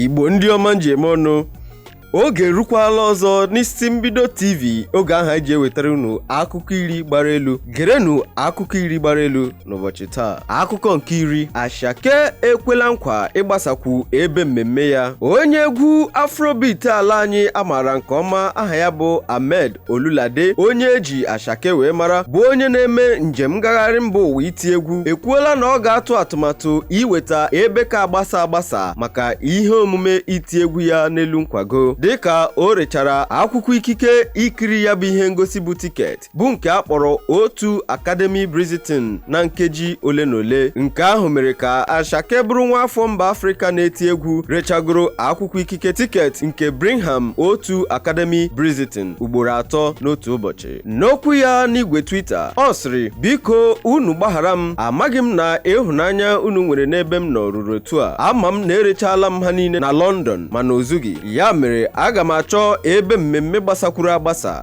igbo ndị ọma m ji eme ọnụ oge erukwala ọzọ n'isi mbido tv oge ahụ eji ewetara unu akụkọ iri gbara elu gerenụ akụkọ iri gbara elu n'ụbọchị taa akụkọ nke iri asake ekwela nkwa ịgbasakwu ebe mmemme ya onye egwu afrobeat ala anyị amaara nke ọma aha ya bụ ahmed ololade onye eji asake wee mara bụ onye na-eme njem ngagharị mba ụwa iti egwu ekwuola na ọ ga-atụ atụmatụ iweta ebe ka agbasa agbasa maka ihe omume iti egwu ya n'elu nkwago dịka o rechara akwụkwọ ikike ikiri ya bụ ihe ngosi bụ tiketi bụ nke a kpọrọ O2 Academy Brixton na nkeji ole na ole nke ahụ mere ka Asake bụrụ nwa afọ mba Afrịka na-eti egwu rechagoro akwụkwọ ikike tiketi nke Birmingham O2 Academy Brixton ugboro atọ n'otu ụbọchị n'okwu ya n'igwe Twitter ọ sịrị biko unu gbaghara m amaghị m na ịhụnanya unu nwere n'ebe m nọ ruru otu a ama m na erechala m ha niile na London mana o zughị ya mere aga m achọ ebe mmemme gbasakwuru agbasa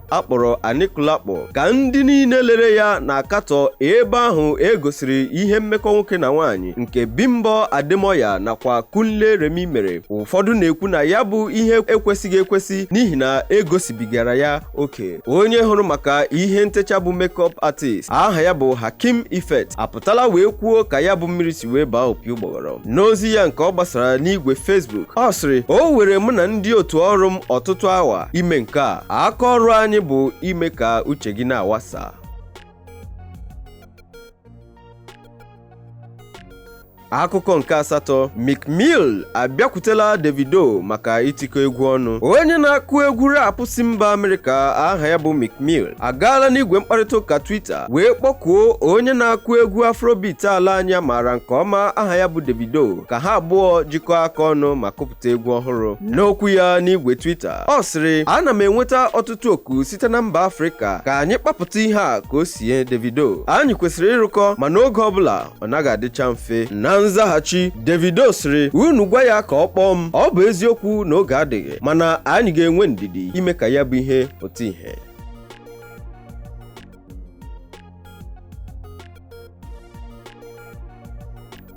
a kpọrọ Anikulapo ka ndị niile lere ya na-akatọ ebe ahụ e gosiri ihe mmekọ nwoke na nwaanyị nke Bimbo Ademoye nakwa Kunle Remi mere ụfọdụ na-ekwu na ya bụ ihe ekwesịghị ekwesị n'ihi na egosibigara ya oke onye hụrụ maka ihe ntecha bụ makeup artist aha ya bụ Hakeem Effect apụtala wee kwuo ka ya bụ mmiri si wee baa opi ụgbọgọ n'ozi ya nke ọ gbasara n'igwe Facebook ọ sịrị o were mụ na ndị otu ọrụ m ọtụtụ awa ime nke a aka ọrụ anyị bụ ime ka uche gị na-awasa akụkọ nke asatọ Meek Mill abịakwutela Davido maka itikọ egwu ọnụ onye na-akụ egwu rap si mba Amerịka aha ya bụ Meek Mill agaala n'igwe mkparịta ụka Twitter wee kpọkuo onye na-akụ egwu afrobeat ala anyị amaara nke ọma aha ya bụ Davido ka ha abụọ jikọọ aka ọnụ ma kụpụta egwu ọhụrụ n'okwu ya n'igwe Twitter ọ sịrị ana m enweta ọtụtụ oku site na mba Afrịka ka anyị kpapụta ihe a ka o sie Davido anyị kwesịrị ịrụkọ mana oge ọbụla ọ naghị adịcha mfe na nzaghachi Davido sịrị unu gwa ya ka ọ kpọọ m ọ bụ eziokwu na oge adịghị mana anyị ga-enwe ndidi ime ka ya bụ ihe pụta ihe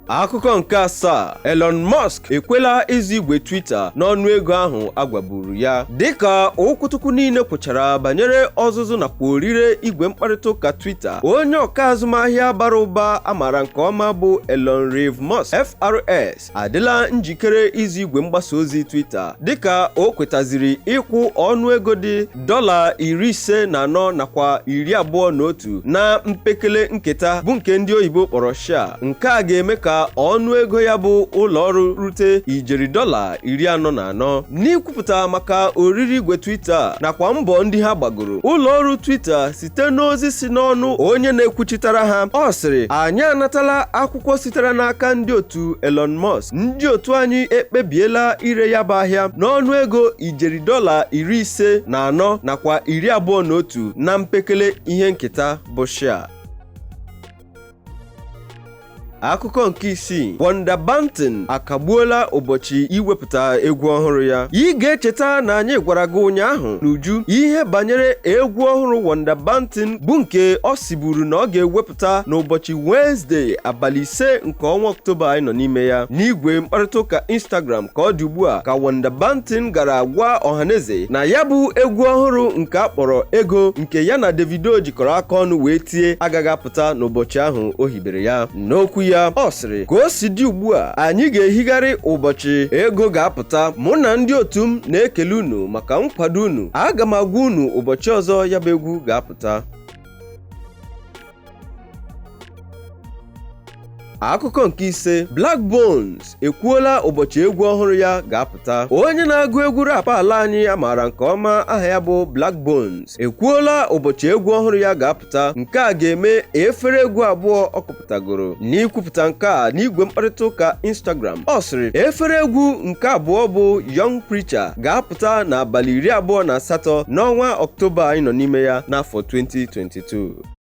akụkọ nke asaa Elon Musk ekwela ịzụ igwe Twitter n'ọnụ ego ahụ agwaburu ya dịka okwutukwu niile kwụchara banyere ọzụzụ nakwa orire igwe mkparịta ụka Twitter onye ọka azụmahịa bara ụba amara nke ọma bụ Elon Reeve Musk FRS adịla njikere ịzụ igwe mgbasa ozi Twitter dịka o kwetaziri ịkwụ ọnụ ego dị dọla iri ise na anọ nakwa iri abụọ na otu na mpekele nketa bụ nke ndị oyibo kpọrọ share nke a ga-eme ka ọnụ ego ya bụ ụlọ ọrụ rute ijeri dọla iri anọ na anọ n'ikwupụta maka orire igwe Twitter nakwa mbọ ndị ha gbagoro ụlọ ọrụ Twitter site n'ozi si n'ọnụ onye na-ekwuchitara ha ọ sịrị anyị anatala akwụkwọ sitere n'aka ndị otu Elon Musk ndị otu anyị ekpebiela ire ya bụ ahịa n'ọnụ ego ijeri dọla iri ise na anọ nakwa iri abụọ na otu na mpekele ihe nketa bụ share akụkọ nke isii 1da Banton akagbuola ụbọchị iwepụta egwu ọhụrụ ya ị ga-echeta na anyị gwara gị ụnyaahụ n'uju ihe banyere egwu ọhụrụ 1da Banton bụ nke ọ siburu na ọ ga-ewepụta n'ụbọchị Wenezdee abalị ise nke ọnwa Ọktoba anyị nọ n'ime ya n'igwe mkparịta ụka Instagram ka ọ dị ugbu a ka 1da Banton gara gwa ọhaneze na ya bụ egwu ọhụrụ nke a kpọrọ ego nke ya na Davido jikọrọ aka ọnụ wee tie agaghị apụta pụta n'ụbọchị ahụ o hibere ya n'okwu ya ọ sịrị ka o si dị ugbu a anyị ga-ehigharị ụbọchị ego ga-apụta mụ na ndị otu m na-ekele unu maka nkwado unu aga m agwa unu ụbọchị ọzọ ya bụ egwu ga-apụta akụkọ nke ise Blaqbonez ekwuola ụbọchị egwu ọhụrụ ya ga-apụta onye na-agụ egwu rap ala anyị a maara nke ọma aha ya bụ Blaqbonez ekwuola ụbọchị egwu ọhụrụ ya ga-apụta nke a ga-eme efere egwu abụọ ọ kụpụtagoro n'ikwupụta nke a n'igwe mkparịta ụka Instagram ọ sịrị efere egwu nke abụọ bụ Young Preacher ga-apụta n'abalị iri abụọ na asatọ n'ọnwa Ọktoba anyị nọ n'ime ya n'afọ 2022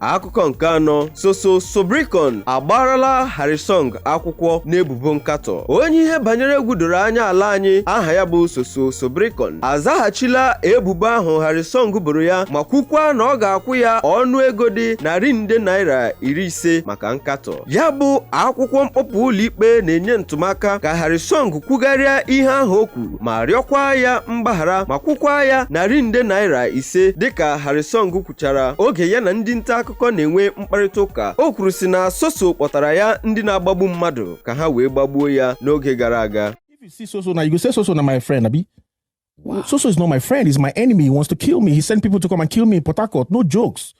akụkọ nke anọ Soso Soberekon agbarala Harrysong akwụkwọ n'ebubo nkatọ onye ihe banyere egwu doro anya ala anyị aha ya bụ Soso Soberekon azaghachila ebubo ahụ Harrysong boro ya ma kwukwa na ọ ga-akwụ ya ọnụ ego dị narị nde naira iri ise maka nkatọ ya bụ akwụkwọ mkpọpụ ụlọikpe na-enye ntụmaka ka Harrysong kwugharịa ihe ahụ o kwuru ma rịọkwa ya mgbaghara ma kwụkwa ya narị nde naira ise dịka Harrysong kwuchara oge ya na ndị nta akụkọ na-enwe mkparịta ụka o kwuru sị na Soso kpọtara ya ndị na-agbagbu mmadụ ka ha wee gbagbuo ya n'oge gara aga If you see Soso now, you go say Soso na my friend, Abi. Soso is not my friend. He's my enemy. He wants to kill me. He sent people to come and kill me in Port Harcourt. No jokes.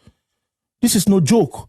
This is no joke.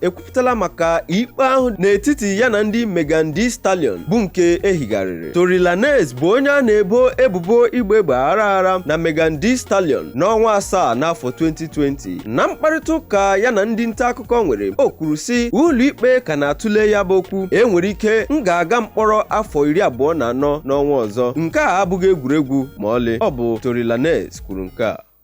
ekwupụtala maka ikpe ahụ n'etiti ya na ndị Megan Thee Stallion bụ nke ehigharịrị Tory Lanez bụ onye a na-ebo ebubo ịgba egbe aghara aghara na Megan Thee Stallion n'ọnwa asaa n'afọ 2020 na mkparịta ụka ya na ndị nta akụkọ nwere o kwuru sị ụlọikpe ka na-atụle ya bụ okwu e nwere ike m ga-aga mkpọrọ afọ iri abụọ na anọ n'ọnwa ọzọ nke a abụghị egwuregwu ma ọlị ọ bụ Tory Lanez kwuru nke a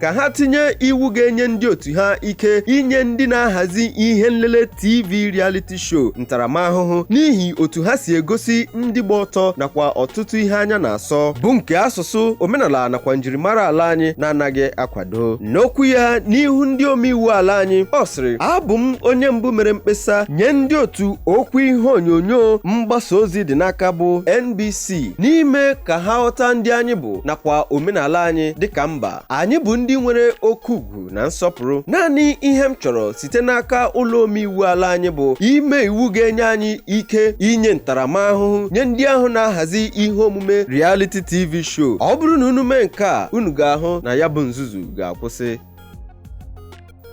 ka ha tinye iwu ga-enye ndị otu ha ike inye ndị na-ahazi ihe nlele TV reality show ntaramahụhụ n'ihi otu ha si egosi ndị gba ọtọ nakwa ọtụtụ ihe anya na-asọ bụ nke asụsụ omenala nakwa njirimara ala anyị na-anaghị akwado n'okwu ya n'ihu ndị omeiwu ala anyị ọ sịrị abụ m onye mbụ mere mkpesa nye ndị otu okwu ihe onyonyo mgbasa ozi dị n'aka bụ NBC n'ime ka ha ghọta ndị anyị bụ nakwa omenala anyị dịka mba anyị bụ ndị nwere oke ugwu na nsọpụrụ naanị ihe m chọrọ site n'aka ụlọ omeiwu ala anyị bụ ime iwu ga-enye anyị ike inye ntaramahụhụ nye ndị ahụ na-ahazi ihe omume reality tv show ọ bụrụ na unu mee nke a unu ga-ahụ na ya bụ nzuzu ga-akwụsị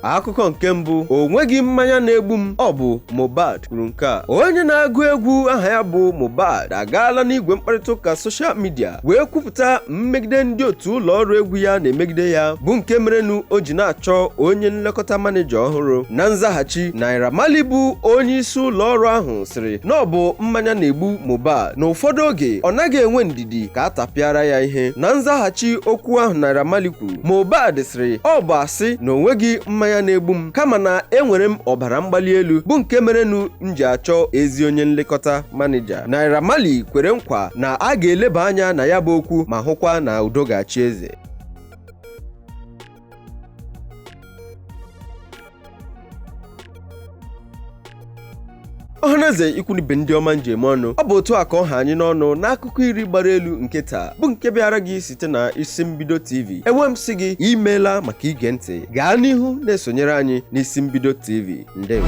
akụkọ nke mbụ o nweghị mmanya na-egbu m ọ bụ Mohbad kwuru nke a onye na-agụ egwu aha ya bụ Mohbad agaala n'igwe mkparịta ụka soshal midia wee kwupụta mmegide ndị otu ụlọ ọrụ egwu ya na-emegide ya bụ nke merenụ o ji na-achọ onye nlekọta maneja ọhụrụ na nzaghachi Naira Marley bụ onye isi ụlọ ọrụ ahụ sịrị na ọ bụ mmanya na-egbu Mohbad na ụfọdụ oge ọ naghị enwe ndidi ka a tapịara ya ihe na nzaghachi okwu ahụ Naira Marley kwuru Mohbad sịrị ọ bụ asị na o nweghị mmanya na-egbu m kama na enwere m ọbara mgbali elu bụ nke merenụ m ji achọ ezi onye nlekọta manija Naira Marley kwere nkwa na a ga-eleba anya na ya bụ okwu ma hụkwa na udo ga-achị eze ọhaneze ikwu na ibe ndị ọma m ji eme ọnụ ọ bụ otu a ka ọ ha anyị n'ọnụ n'akụkọ iri gbara elu nke taa bụ nke bịara gị site na isi mbido tv e wee m sị gị imeela maka ige ntị gaa n'ihu na-esonyere anyị n'isi mbido tv ndewo